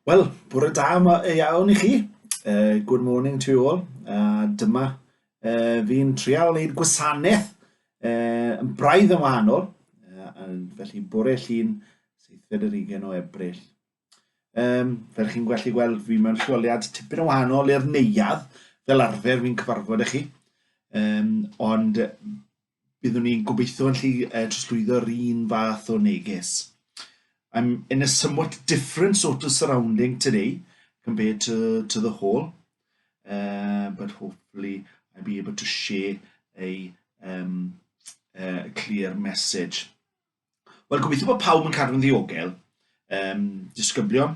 Wel, bore da yma e iawn i chi. Uh, good morning to you all. Uh, dyma uh, fi'n trial wneud gwasanaeth uh, yn braidd yn wahanol. Uh, felly bore llun seithfed yr ugen o ebryll. Um, fel chi'n gwellu gweld, fi mewn lleoliad tipyn o wahanol i'r neuad. Fel arfer fi'n cyfarfod â chi. Um, ond byddwn ni'n gobeithio yn lli uh, trosglwyddo'r un fath o neges. I'm in a somewhat different sort of surrounding today compared to, to the hall, uh, but hopefully I'll be able to share a, um, a clear message. Wel, gobeithio bod pawb yn cadw'n ddiogel. Um, disgyblion,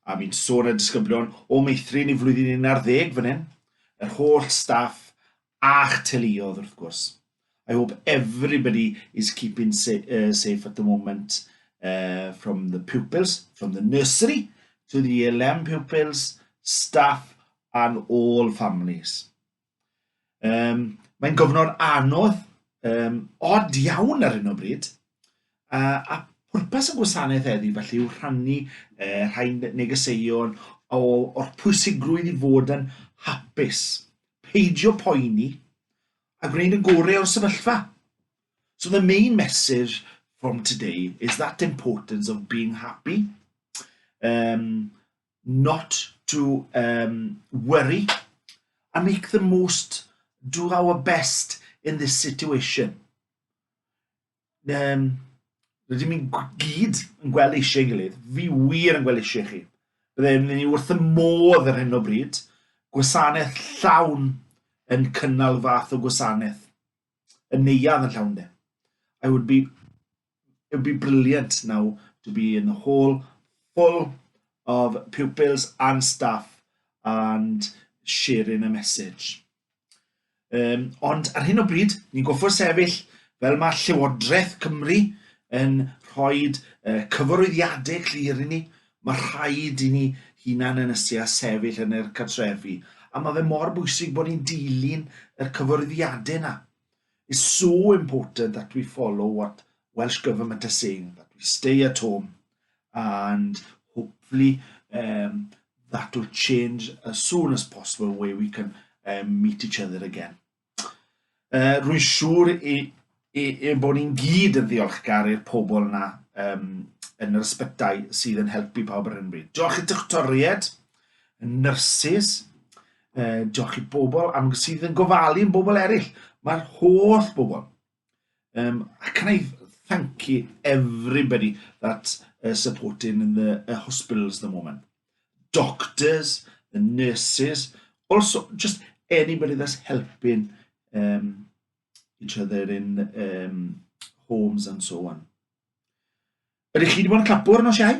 a fi'n sôn y disgyblion o meithrin i flwyddyn 11 fan hyn, yr holl staff a'ch teuluodd wrth gwrs. I hope everybody is keeping sa uh, safe at the moment uh, from the pupils, from the nursery to the ELM pupils, staff and all families. Um, mae'n gofnod anodd, um, od iawn ar hyn o bryd, a, a pwrpas y gwasanaeth eddi felly yw rhannu uh, rhai negeseuon o, o'r pwysigrwydd i fod yn hapus, peidio poeni, a gwneud y gorau o'r sefyllfa. So the main message from today is that importance of being happy. Um, not to um, worry and make the most, do our best in this situation. Um, rydym ni'n gyd yn gweld eisiau gilydd. Fi wir yn gweld eisiau chi. Byddai'n ni wrth y modd ar hyn o bryd, gwasanaeth llawn yn cynnal fath o gwasanaeth. Y neiad yn llawn de. I would be it would be brilliant now to be in the hall full of pupils and staff and sharing a message. Um, ond ar hyn o bryd, ni'n goffo sefyll fel mae Llywodraeth Cymru yn rhoi uh, cyfarwyddiadau clir i ni, mae rhaid i ni hunan yn ysia sefyll yn yr cartrefi. A mae fe mor bwysig bod ni'n dilyn y cyfarwyddiadau yna. It's so important that we follow what Welsh Government are saying, that we stay at home and hopefully um, that will change as soon as possible where we can um, meet each other again. Uh, rwy'n siŵr i, i, i bod ni'n gyd yn ddiolchgar i'r pobl yna um, yn yr ysbytau sydd yn helpu pawb ar hyn bryd. Diolch i doctoried, y nyrsys, uh, diolch i bobl am sydd yn gofalu yn bobl eraill. Mae'r holl bobl. Um, can I thank you everybody that's uh, supporting in the uh, hospitals at the moment? Doctors, the nurses, also just anybody that's helping um, each other in um, homes and so on. Ydych chi wedi bod yn clapwr nos iau?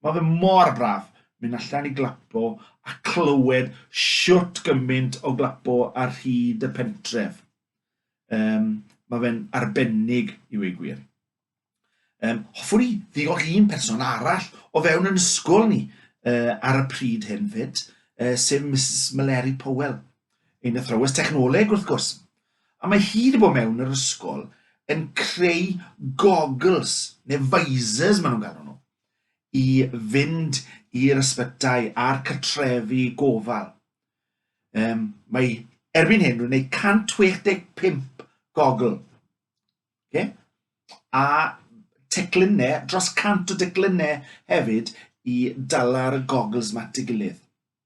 Mae fe mor braf mynd allan i glapo a clywed siwt gymaint o glapo ar hyd y pentref. Um, mae fe'n arbennig i wei gwir. Um, hoffwn i ddiolch un person arall o fewn yn ysgol ni uh, ar y pryd hyn fyd, uh, sef Mrs Meleri Powell, ein athrawes technoleg wrth gwrs. A mae hi 'di bod mewn yr ysgol yn creu goggles, neu visors maen nhw'n galw nhw, i fynd i'r ysbytai a'r cartrefi gofal. Um, mae erbyn hyn rwy'n gwneud 165 gogl. Okay? A teclynnau, dros 100 o declynnau hefyd i dala'r goggles ma at ei gilydd.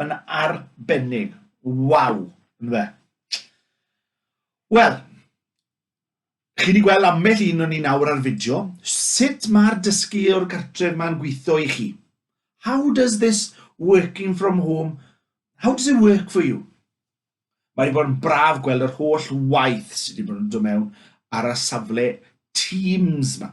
Yn arbennig. Waw, ynfe? Wel, chi wedi gweld ambell un o'n ni nawr ar fideo, sut mae'r dysgu o'r cartref ma'n gweithio i chi? How does this working from home, how does it work for you? Mae wedi bod yn braf gweld yr holl waith sydd wedi bod yn dod mewn ar y safle Teams ma.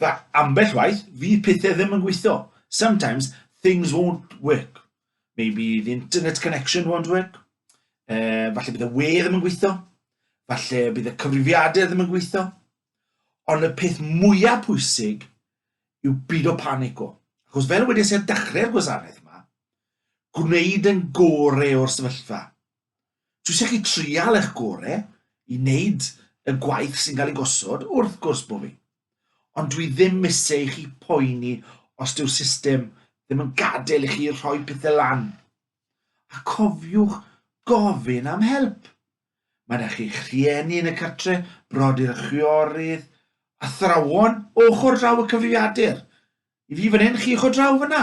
Fe, ambell waith, fydd pethau ddim yn gweithio. Sometimes things won't work. Maybe the internet connection won't work. Uh, falle bydd y we ddim yn gweithio. Falle bydd y cyfrifiadau ddim yn gweithio. Ond y peth mwyaf pwysig yw byd o panic o. Achos fel wedi sef dechrau'r gwasanaeth yma, gwneud yn gore o'r sefyllfa. Dwi eisiau chi trial eich gore i wneud y gwaith sy'n cael ei gosod, wrth gwrs bod fi. Ond dwi ddim eisiau i chi poeni os dyw'r system ddim yn gadael i chi rhoi pethau lan. A cofiwch gofyn am help. Mae yna chi'ch rhieni yn y cartre, brodyr a chwiorydd, athrawon ochr draw y cyfrifiadur. I fi fan hyn, chi ochr draw fyna.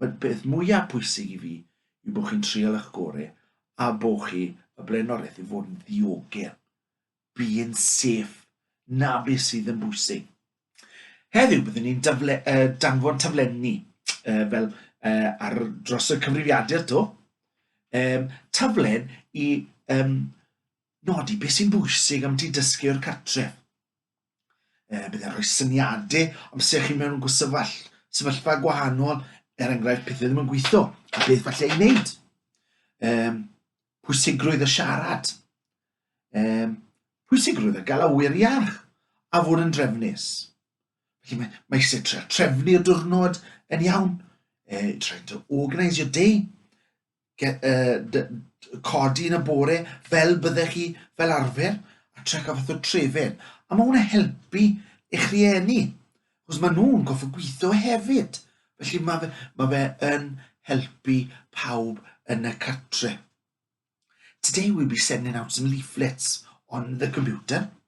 Mae'r peth mwyaf pwysig i fi yw bod chi'n trial eich gore a bod chi y blaenoriaeth yw fod yn ddiogel. Being safe. Na beth sydd yn bwysig. Heddiw byddwn ni'n dafle, uh, danfon taflenni uh, fel uh, ar dros y cyfrifiadur to. Um, taflen i um, nodi beth sy'n bwysig am ti dysgu o'r cartref. E, bydd e'n rhoi syniadau am sef chi mewn gwsefall, sefyllfa gwahanol, er enghraifft pethau ddim yn gweithio, a beth falle ei wneud. E, pwysigrwydd y siarad. E, pwysigrwydd y gael awyr iach a fod yn drefnus. Felly mae, mae eisiau trefnu y diwrnod yn iawn, e, trying to organise your day, get, uh, codi yn y bore fel byddech chi fel arfer a trec a fath o trefen. A mae hwnna helpu eich rhieni, chos maen nhw'n goffa gweithio hefyd. Felly mae fe, mae fe yn helpu pawb yn y cartre. Today we'll be sending out some leaflets on the computer.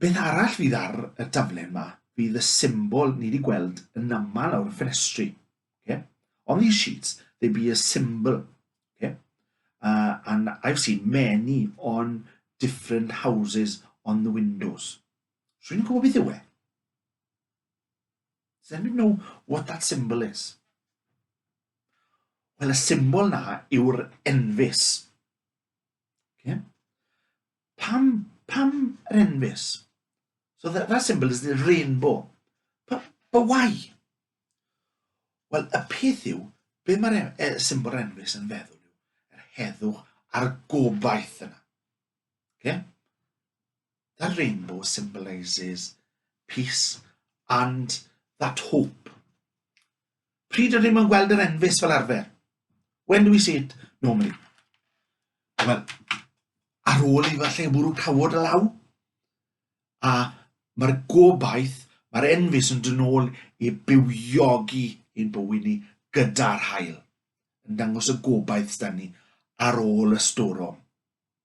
Beth arall fydd ar y daflen ma? Fydd y symbol ni wedi gweld yn aml o'r ffenestri. Okay? On these sheets, there be a symbol. Okay? Uh, and I've seen many on different houses on the windows. Rwy'n gwybod beth yw e? Does anybody know what that symbol is? Wel, y symbol na yw'r enfys. Okay? Pam, pam yr enfys? So that, that symbol is the rainbow. But, but why? Wel, y peth yw, be mae'r e, e, symbol enfys yn feddwl yw, yr heddwch a'r gobaith yna. Okay? That rainbow symbolises peace and that hope. Pryd ydym yn gweld yr enfys fel arfer? When do we see it normally? Wel, ar ôl i falle bwrw cawod y law, a mae'r gobaith, mae'r enfys yn dynol i bywiogi ein bywyd ni gyda'r hael, yn dangos y gobaith sydd ni ar ôl y storom.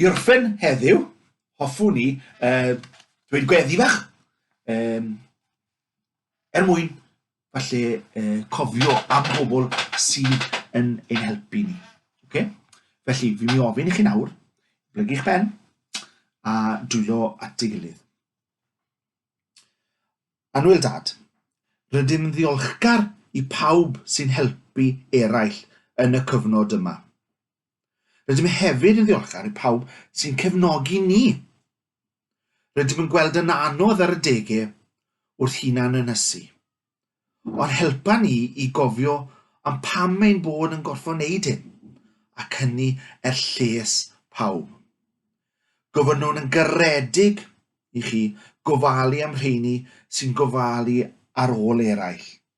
I orffen heddiw, hoffwn i uh, dweud gweddi fach, um, er mwyn falle uh, cofio am bobl sydd yn ein helpu ni. Okay? Felly, fi mi ofyn i chi nawr, blygu'ch ben a dwylo at ei gilydd. Anwyl Dad, rydym ddiolchgar i pawb sy'n helpu eraill yn y cyfnod yma. Rydym hefyd yn ddiolchgar i pawb sy'n cefnogi ni. Rydym yn gweld yn anodd ar y degau wrth hunan ynysu. Ond helpa ni i gofio am pam ein bod yn gorfod wneud hyn, ac hynny er lles pawb. Gofynnwn yn garedig i chi gofalu am rheini sy'n gofalu ar ôl eraill.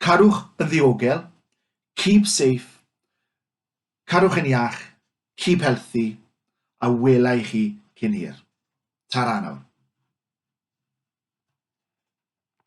Carwch yn ddiogel, keep safe, carwch yn iach, keep healthy, a wela i chi cyn hir. Ta-ra nawr.